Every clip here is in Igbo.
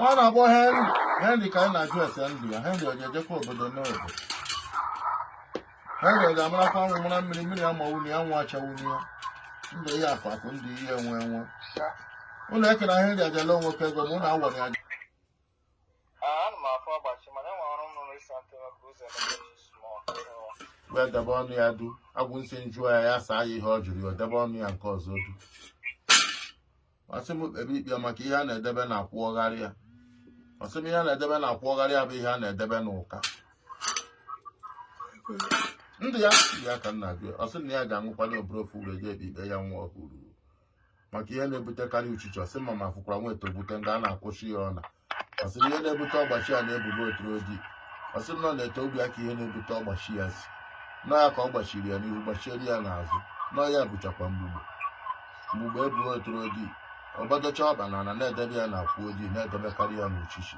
ọ na-akpọ henry henry ka anyị na-ajụ ese ndụ ya henry ọ ga-ejekwa obodo n'obodo henry ọ ga-amarakwa anwụ mara mmiri mmiri amawuna ya anwụ achawuna ya ndụ ihe akụ akụ ndụ ihe enwe enwe ụlọ ekena henry ajala nwoke ego ma ụlọ awọrị aja wee debe ọnụ ya du agwụ nsi jụọ ya ya saa ya ihe ọ jụrụ ya debe ọnụ ya nke ọzọ du ọ sị m kpebe ikpe maka ihe a na-edebe na akwụ agharị ya ọ sị m ihe a na-edebe na akwụ agharị ya bụ ihe a na-edebe n'ụka ndị ya ya ka nna gị ọ sị na ya ga-aṅụkwanye ọbara ofu were jee ikpe ya nwa ọhụrụ maka ihe na-ebutekarị uchichi ọ sị m ma afụkwara nwa ete ogute nga a na-akwụsị ya ọna ọ sị na ihe na-ebute ọgbachi ya na-ebubo oturu odi ọ sị na ọ na-ete obi ya ka ihe na-ebute ọgbachi ya sị na ọ ya ka ọ gbachiri ya n'ihu gbachiere ya n'azụ na ọ ya bụchakwa mgbugbo mgbugbo eburu oturu odi ọ gbadocha ọkpa na ala na-edebe ya na akwụ odi na-edebekarị ya n'uchichi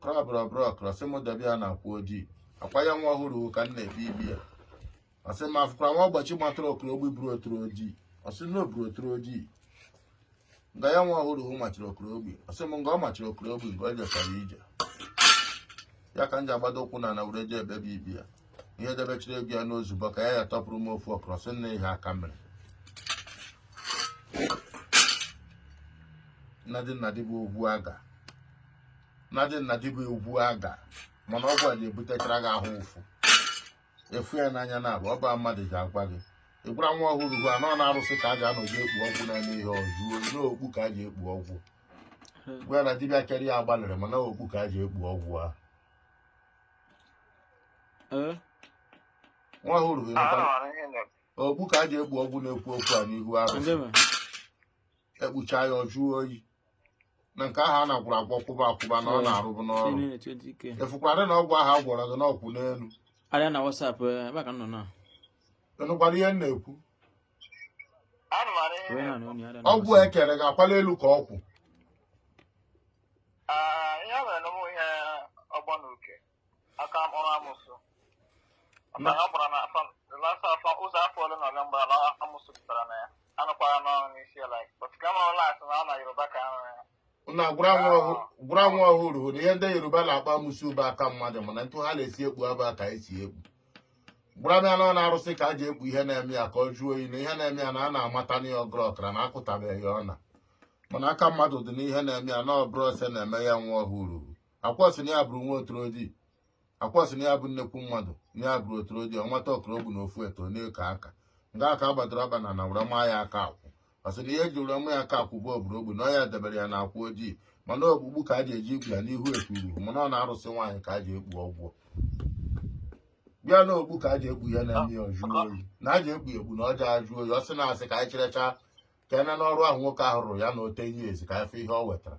brọbrọbrọk ọ sị m debe ya na akwụ odi akwa ya nwa ọhụrụ ka m na-ebi ibi ya ọ sị m afụkwara nwa ọgbachi matara ọkara ogbi buru oturu odi ọ sị na o buru oturu odi nga ya nwa ọhụrụ machiri ọkara ogbi ọ sị m nga ọ machiri ọkara ogbi nga o jechara ije ya ka m ji agbado ụkwụ n'ana were je ebe bụ ibi ya ihe debechiri ego ya n'ozugbo ka ya ya tọpụrụ m ofu ọkara sị nna ihe aka mere nnadị nnadị bụ ogbu aga na dị na dị bụ egwu aga mana ọgwụ a ga-ebutechara gị ahụ ụfụ efu ya n'anya na abụ ọ bụ mmadụ ji agwa gị ị gwara nwa ọhụrụ gwa na ọ n'arụsị ka a ga-anọji ekpu ọgwụ na-eme ihe ọjụo n'okpu ka a ji ekpu ọgwụ gwa na dibịa kere ya agbalịrị mana okpu ka a ji ekpu ọgwụ a nwa ọhụrụ gị nakwa okpu ka a ji ekpu ọgwụ na-ekwu okwu a n'ihu arụsị ekpucha ya ọ jụọ oyi na nke ahụ na a gwọrọ agwọ kwụba akwụba na ọ na-arụbụ n'ọrụ ị fụkwara na ọgwụ ahụ a gwọrọ gị na ọ kwụ n'elu arịa na WhatsApp eh, ebe ka m nọ na ị nụkwara ihe m na-ekwu ọgwụ e kere ga-akwala elu ka ọkwụ aka mkpọrọ amụsụ maka na ọ gbara na afọ asaa afọ ụzọ afọ ole na ole mgbe ala amụsụ pụtara na ya anụkwara n'ọrụ n'isi ya like but ka mara ụlọakụ na ọ na yoruba ka arụ ya na gwara nwa ọhụrụ na ihe ndị yoruba na-akpọ amụsụ bụ aka mmadụ mana ntụ ha na-esi ekpu abụ ka e si ekpu gwara m ya na ọ n'arụsị ka a ji ekpu ihe na-eme ya ka ọ jụọ oyi na ihe na-eme ya na a na-amata na ya ọgọrị ọkara na akụtabeghị ya ọna mana aka mmadụ dị n'ihe na-eme ya na ọbara ose na-eme ya nwa ọhụrụ a kwọ sị na ya bụrụ nwa otorodi a kwọ sị na ya bụ nnekwu mmadụ na ya bụrụ otorodi ọnwata ọkụrụ ogbu na ofu eto na-eko aka nga aka agbadoro aba na na were maa ya aka akwụ ọ sị na ihe e ji were ma ya aka akwụ bụ oburu ogbu na ọ ya debere ya na akwụ ojii mana ogbugbu ka a ji eji ikpu ya n'ihu ekpuru mana ọ na-arụsị nwaanyị ka a ji ekpu ọgwụ bịa na okpu ka a ji ekpu ya na ndị ọjụ oyi na a ji ekpu ekpu na ọ ja-ajụ oyi ọ sị na a sị ka anyị cherecha ka e nee n'ọrụ ahụ nwoke ahụ rụrụ ya na ote ihe ezi ka afọ ihe ọ wetara